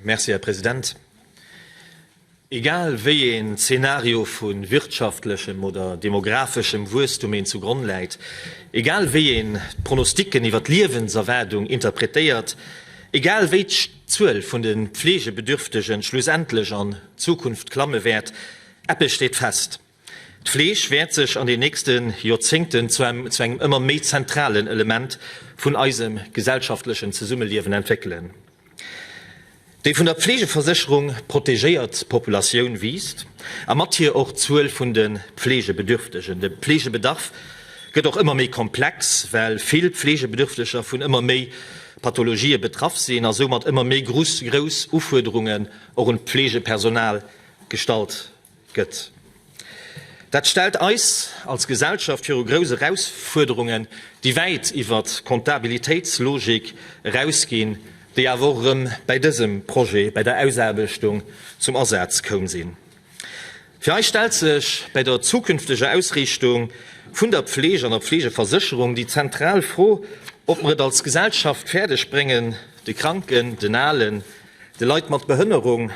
Merci, Här President. Egal wéi een Zeenario vu wirtschaftlechem oder demographeschem Wuesstum een zu Gronn läit, egal wéi een d'Pronostiken iwwer d'Liewenserwaardung interpretéiert, egal wéi d'Zuel vun de Pflegebedürftegen schlussendlech an Zukunft klamme wäert, eppes steet fest, D'Fleesch wäert sech an den nächste Joerzéngten zu engem ëmmer méi zentralen Element vun eisem gesellschaftlechen Zesummeliewen entwéckelen. Déi vun der Pflegeversécherung protegéiert Populatioun wiisst, a mat hir och d'Zuel vun de Pflegebedürftegen. De Pflegebedarf gëtt och ëmmer méi komplex, well vill Pflegebedürfteger vun ëmmer méi Pathologië betraff sinn a soumat ëmmer méi grouss Ufuerderungen och un d'Pflegepersonal gestallt gëtt. Dat stellt eis als Gesellschaft viru grouss Erausfuerderungen, déi wäit iwwer d'Kontabilitéitslogik erausginn, déi awer och erëm bäi dësem Projet, bäi der Ausaarbechtung zum Asaz koum sinn. Fir eis stellt sech bäi der zukünfteger Ausriichtung vun der Pfleg an der Pflegeversécherung déi zentral Fro, ob mer et als Gesellschaft fäerdeg bréngen, de Kranken, den Alen, de Leit mat Behënnerung,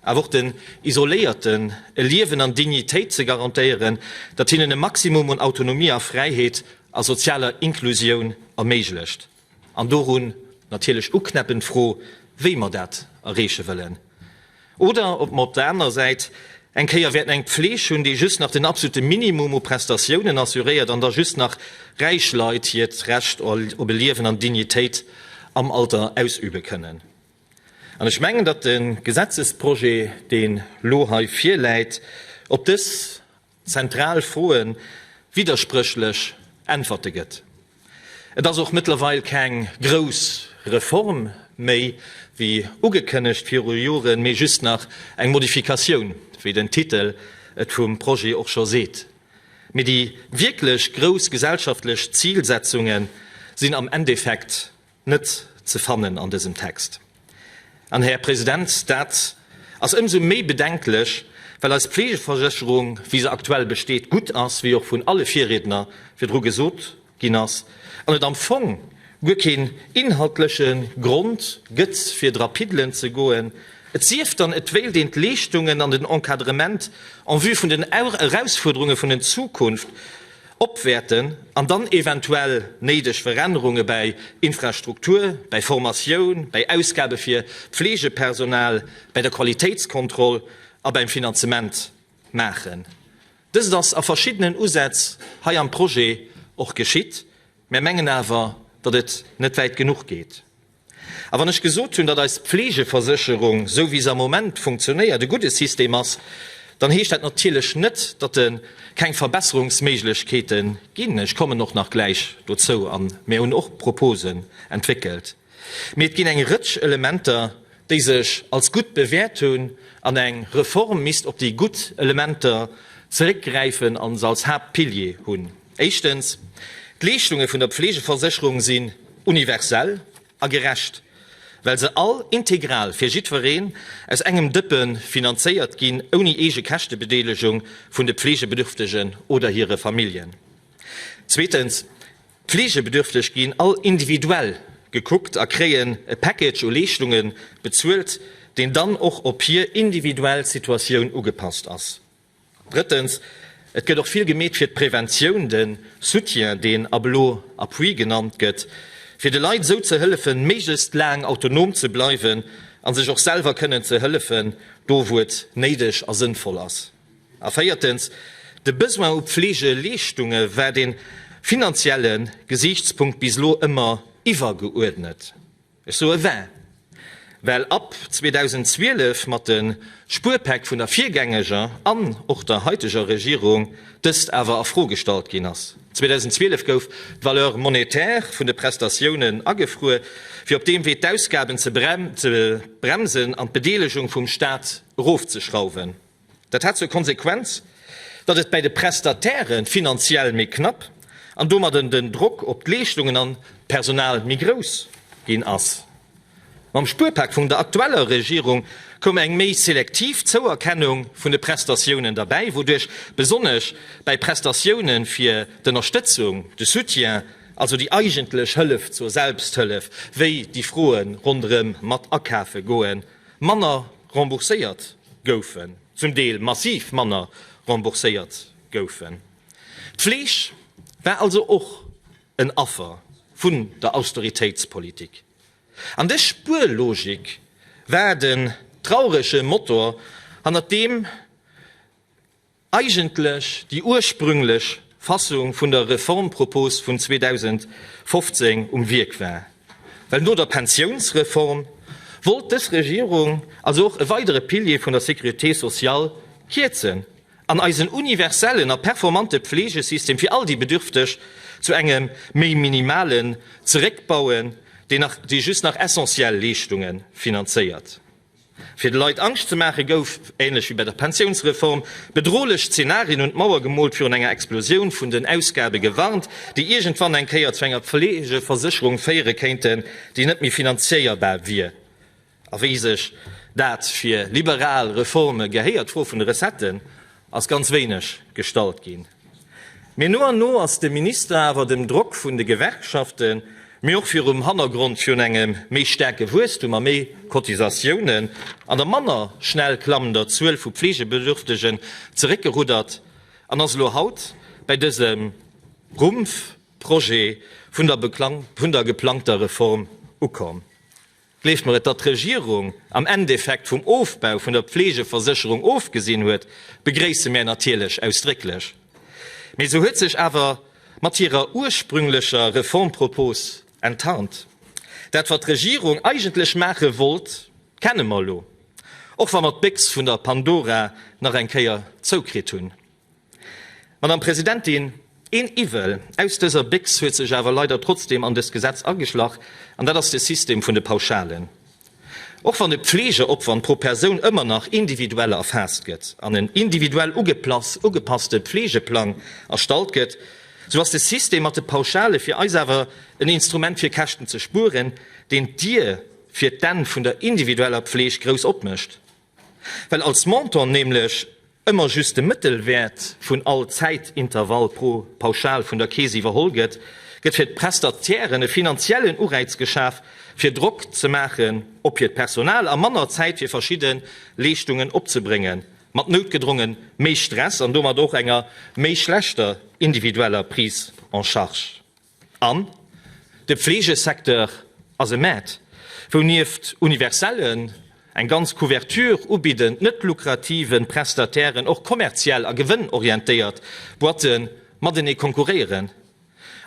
awer och den Isoléierten e Liewen an Dignitéit ze garantéieren, dat hinnen e Maximum un Autonomie a Fräiheet a sozialer Inklusioun erméiglecht. An dorun natierlech uknäppend d'Fro, wéi mer dat erreeche wëllen. Oder ob mer op der anerer Säit eng Kéier wäerten eng Pfleeg hunn, déi just nach den absolute Minimum u Prestatiounen assuréiert an da just nach räich Leit hiert Recht op e Liewen an Dignitéit am Alter ausübe kënnen. An ech mengen, datt de Gesetzesprojet, deen elo hei virläit, op dës zentral Froe widderspréchlech Äntwerte gëtt. Et ass och mëttlerweil keng grouss Reform méi, wéi ugekënnegt viru Joren, mee just nach eng Modifikatioun, wéi den Titel et vum Projet och scho seet. Mee déi wierklech grouss gesellschaftlech Zilsetzunge sinn am Endeffekt net ze fannen an dësem Text. An, Här President, dat ass ëmsou méi bedenklech, well eis Pflegeversécherung, wéi se aktuell besteet, gutt ass, wéi och vun alle Virriedner virdru gesot ginn ass, an et am Fong guer keen inhaltleche Grond gëtt, fir dra piddelen ze goen, et sief dann, et wéilt een d'Leeschtungen an den Encadrement en vue vun den Erausfuerderunge vun den Zukunft, Opwäerten an dann eventuell néideg Verännerunge bäi Infrastruktur, bäi Formatioun, bäi Ausgabe fir Pflegepersonal, bäi der Qualitéitskontroll a bäim Finanzement maachen. Dëst ass a verschiddenen Usätz hei am Projet och geschitt. Mär mengen awer, datt et net wäit genuch geet. A wann ech gesot hunn, datt eis Pflegeversécherung, esou wéi se am Moment funktionéiert, e gudde System ass, dann heescht dat natierlech net, datt et keng Verbesserungsméiglechkeete ginn. Ech kommen och nach gläich dozou. A mir hunn och Proposen entwéckelt. Mee et ginn eng Rëtsch Elementer, déi sech als gutt bewäert hunn. An eng Reform misst op déi gutt Elementer zeréckgräifen a se als Haaptpilier hunn. Éischtens, d'Leeschtunge vun der Pflegeversécherung sinn universell a gerecht, well se all integral fir jiddwereen aus engem Dëppe finanzéiert ginn, ouni eege Käschtebedeelegung vun de Pflegebedürftegen oder hire Familljen. Zweetens, d'Pflegebedürfteg ginn all individuell gekuckt a kréien e Package u Leeschtunge bezuelt, deen dann och op hir individuell Situatioun ugepasst ass. Drëttens, Et gëtt och vill gemeet fir d'Präventioun, de Soutien, deen ab elo Appui genannt gëtt, fir de Leit esou ze hëllefen, méiglechst laang autonom ze bleiwen a sech och selwer kënnen ze hëllefen, do wou et néideg a sënnvoll ass. A véiertens, De Besoin u Pflegeleeschtunge war de finanzielle Gesiichtspunkt bis elo ëmmer iwwergeuerdnet. Ech soe war, well ab 2012 mat de Spuerpäck vun der virgängeger an och der haiteger Regierung dëst awer a Fro gestallt ginn ass. 2012 gouf d'Valeur monétaire vun de Prestatiounen agefruer, fir op deem Wee d'Ausgaben ze bremsen an d'Bedeelegung vum Staat erofzeschrauwen. Dat hat zur Konsequenz, datt et bäi de Prestatäre finanziell méi knapp an domadden den Drock op d'Leeschtungen an d'Personal méi grouss ginn ass. Mam Spuerpak vum der aktueller Regierung koum eng méi selektiv Zouerkennung vun de Prestatiounen derbäi, wouduerch besonnesch bäi Prestatioune fir d'Ënnerstëtzung, de Soutien, also déi eigentlech Hëllef zur Selbsthëllef, wéi déi Froe ronderëm Matakafe goen, manner rembourséiert goufen, zum Deel massiv manner rembourséiert goufen. D'Fleeg war also och en Affer vun der Austeritéitspolitik. An dës Spuerlogik war den traurege Motor, hannert deem Eigentlech déi ursprünglech Fassung vun der Reformpropos vun 2015 um Wierk war. Well no der Pensiounsreform wollt dës Regierung also och e weidere Pilier vun der Sécurité sociale kierzen an eisen universellen a performante Pflegesystem fir all déi Bedürfteg zu engem méi minimalen zeréckbauen, deen just nach essentiell Leeschtunge finanzéiert. Fir de Leit Angscht ze maachen, gouf, ähnlech wéi bei der Pensiounsreform, bedrohlech Zenarien un d'Mauer gemoolt, virun enger Explosioun vun den Ausgabe gewarnt, déi iergendwann eng Kéier zu enger Pflegeversécherung féiere kéinten, déi net méi finanzéierbar wier. A wéi sech dat fir liberal Reforme gehéiert, d'Fro vun de Recetten ass ganz wéineg gestallt ginn, mee no an no ass de Minister awer dem Drock vun de Gewerkschaften, mee och virum Hannergrond vun engem méi staarke Wuesstum a méi Cotisatiounen an der manner schnell klammender Zuel vu Fleegebedürftegen, zeréckgeruddert an ass elo haut bäi dësem Rumpf-Projet vun der geplangter Reform ukomm. Gleeft mer et, datt d'Regierung am Endeffekt vum Ofbau vun der Pflegeversécherung ofgesinn huet, begréisse mär natierlech ausdrécklech. Mee se huet sech awer mat hirer ursprünglecher Reformpropos enttarnt. Dat wat d'Regierung eigentlech maache wollt, kenne mer elo, och wa mer d'Béchs vun der Pandora nach eng Kéier zoukritt hunn. Madame Presidentin, een Iwwel aus dëser Béchs huet sech awer leider trotzdem an dëst Gesetz ageschlach, an dat ass de System vun de Pauschalen. Och wann de Pflegeopwand pro Persoun ëmmer nach individuell erfaasst gëtt an en individuell ugepasste Pflegeplang erstallt gëtt, sou ass de System mat de Pauschale fir eis awer en Instrument fir Käschten ze spueren, deen d'Dier fir d'Enn vun der individueller Pfleg grouss opmécht. Well als Montant nämlech ëmmer just de Mëttelwäert vun all Zäitintervall pro Pauschal vun der Keess iwwerholl gëtt, gëtt fir d'Prestatieren e finanziellen Uräiz geschaf, fir Drock ze maachen op hiert Personal a manner Zäit fir verschidde Leeschtungen opzebréngen, mat noutgedronge méi Stress an domat och enger méi schlechter individueller Prise en charge. An de Pflegesecteur ass e Maart, wou nieft universellen, eng ganz Couverture ubidden, net lukrative Prestatairen och kommerziell a gewënnorientéiert Boîte matenee konkurréieren.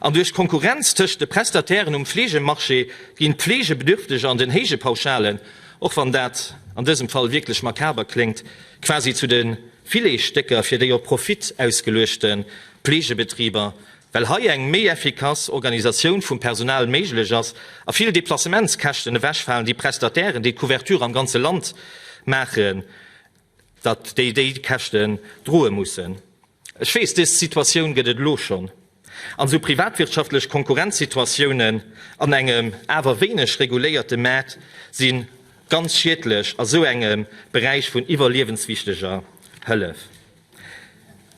An duerch d'Konkurrenz tëscht de Prestatairen um Pflegemarché ginn d'Pflegebedürfteg an den héije Pauschalen, och wann dat an dësem Fall wierklech makaber kléngt, quasi zu de Filetstécker fir déi op Profit ausgeluechte Pflegebetriber. Well hei eng méi effikass Organisatioun vum Personal méiglech ass a vill Deplacementskäschten ewechfalen, déi Prestatairen, déi d'Couverture am ganze Land maachen, datt déi déi Käschten droe mussen. Ech weess, dës Situatioun gëtt et elo schonn an esou privatwirtschaftlech Konkurrenzsituatiounen an engem awer wéineg reguléierte Maart si ganz schiedlech a sou engem Beräich vun iwwerliewenswichteger Hëllef.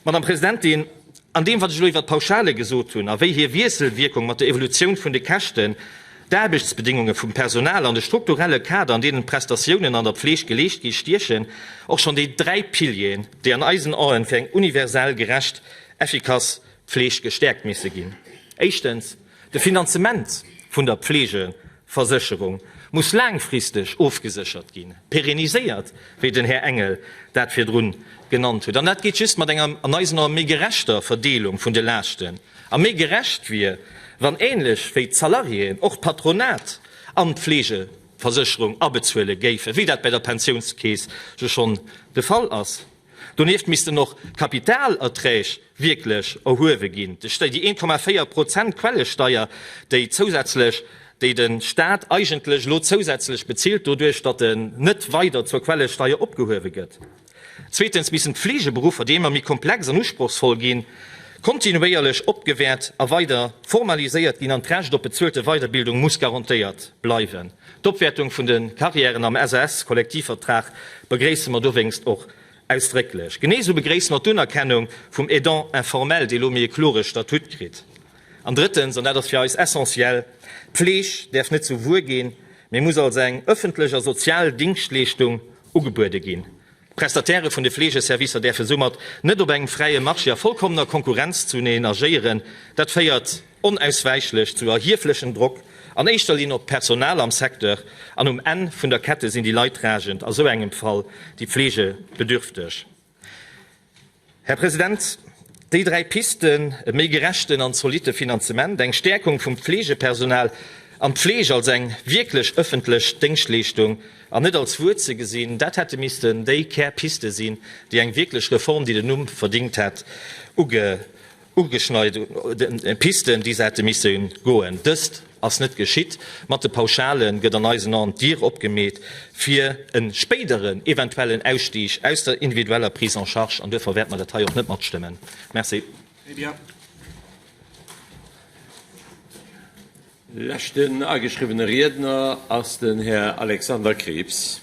Madame Presidentin, an deem, wat ech elo iwwert d'Pauschale gesot hunn a wéi hir Wiesselwierkung mat der Evolutioun vun de Käschten, d'Aarbechtsbedéngunge vum Personal an de strukturelle Kader, an deenen d'Prestatiounen an der Pfleg geleescht ginn, stiechen och schonn déi dräi Pilieren, déi an eisen Aen fir eng universell, gerecht, effikass Pfleg gestäerkt misse ginn. Éischtens. De Finanzement vun der Pflegeversécherung muss laangfristeg ofgeséchert ginn, pérenniséiert, wéi den Här Engel dat virdru genannt huet. An dat geet just mat enger, an eisen Ae méi gerechter Verdeelung vun de Laaschten. A méi gerecht wier, wann änlech wéi d'Salariéen och d'Patronat an d'Pflegeversécherung abezuele géifen, wéi dat bei der Pensiounskeess jo schonn de Fall ass. Donieft missten och d'Kapitalerträg wierklech erhuewe ginn. Déi 1,4 Prozent Quellesteier, déi zousätzlech, déi de Staat eigentlech elo zousätzlech bezilt, doduerch datt en net weider zur Quellesteier opgehuewe gëtt. Zweetens missten d'Fleegeberuffer, déi ëmmer méi komplex an usprochsvoll ginn, kontinuéierlech opgewäert a weider formaliséiert ginn an d'Recht op bezuelte Weiderbildung muss garantéiert bleiwen. D'Opwäertung vun de Carrièren am SAS-Kollektivvertrag begréisse mer dowéinst och ausdrécklech. Genee esou begréisse mer d'Unerkennung vum Aidant informel, dee elo méi e klore Statut kritt. An drëttens, an dat ass fir eis essentiell, D'Pfleg däerf net zu Wuer ginn, mee muss als eng ëffentlech a sozial Dingschtleeschtung ugebuede ginn. D'Prestatairë vun de Fleegeservicer däerfe soumat net op engem fräie Marché a vollkommener Konkurrenz zuneen agéieren. Dat féiert Onauswäichlech zu erhieflechem Drock, an éischter Linn op d'Personal am Secteur, an um Enn vun der Kette sinn déi Leidtragend a sou engem Fall déi Pflegebedürfteg. Här President, déi dräi Pisten, e méi gerechten an zolitte Finanzement, eng Stärkung vum Pflegepersonal an d'Pfleg als eng wierklech öffentlech Déngschtleeschtung an net als Wuer ze gesinn, dat hätte missten déi Kärpiste sinn, déi eng wierklech Reform, déi den Numm verdingt hätt, ugeet. Ugeschneit un Pisten, déi se hätte misse goen. Dëst ass net geschitt. Mat de Pauschalen gëtt an eisen Aen d'Dier opgemeet fir e spéideren eventuellen Ausstig aus der individueller Prise en charge. An duerfir wäerte mer dat hei och net matstëmmen. Merci. Leschten ageschriwwene Riedner ass den Här Alexander Krieps.